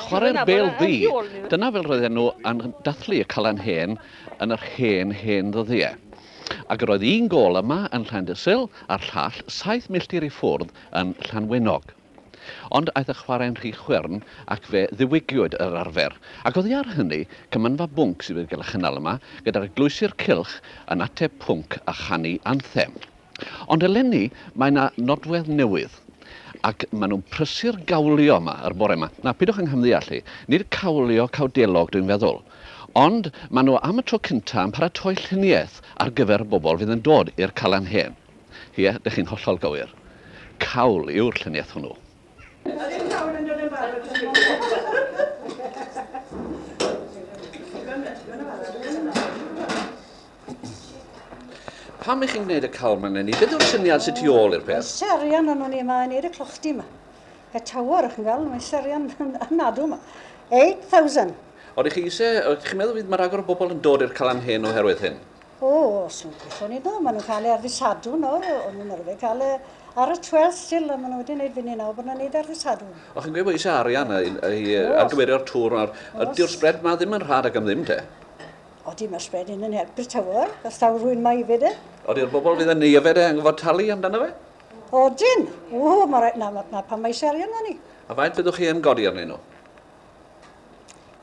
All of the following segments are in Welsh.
Chwarae'r bêl ddu. Dyna fel roedden nhw yn dathlu y Calan Hen yn yr hen, hen ddyddiau. Ac yr oedd un gôl yma yn Llandysul a'r llall saith milltir i ffwrdd yn Llanwenog. Ond aeth y chwarae'n rhy chwyrn ac fe ddiwygiwyd yr arfer. Ac oddi ar hynny, cymanfa bwnc sydd wedi cael ei chynnal yma, gyda'r eglwysir cylch yn ateb pwnc a chanu anthem. Ond eleni mae 'na nodwedd newydd ac maen nhw'n prysu'r gawlio yma yr bore 'ma. Nawr, pidwch yng nghymddeall i, nid cawlio cawdelog dwi'n feddwl. Ond maen nhw am y tro cynta' yn paratoi lluniaeth ar gyfer y bobl fydd yn dod i'r Calan Hen. Ie, dych chi'n hollol gywir. Cawl yw'r lluniaeth hwnnw. Ydych pawb yn dod yn barod am y Pam ych chi'n gwneud y cawl ma'n lenni? Beth yw'r syniad sy'n tu ôl i'r peth? Mae serian yn o'n i yma yn eir y clochdi yma. Y tawr, ych chi'n gweld, mae serian yn adw yma. 8,000. Oeddech chi eisiau, oeddech chi'n meddwl fydd mae rhagor o bobl yn dod i'r Calan Hen oherwydd hyn? O, os nhw'n gwithio ni ddo, maen nhw'n cael ei ar ddisadw nawr, o'n nhw'n arfer cael e ar y 12 still, a maen nhw wedi gwneud fyny nawr bod nhw'n gwneud ar ddisadw. O, chi'n gweud bod eisiau arian i, i ar gymerio'r tŵr nawr. Ydy'r sbred ma ddim yn rhad ag am ddim te? Odi, mae'r sbred hyn yn helpu'r tywyr, os taw rwy'n mae hefyd e. Odi'r bobl fydd yn ei yfed e yn gofod talu amdano fe? Odyn! O, mae rhaid, na, na pan mae eisiau arian o'n i. A faint fyddwch chi yn godi arnyn nhw?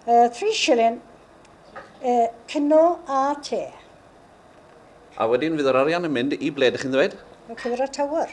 Uh, three shilling Y cino a te. A wedyn fydd yr arian yn mynd i ble dych chi'n ddweud? Y Cura Tower.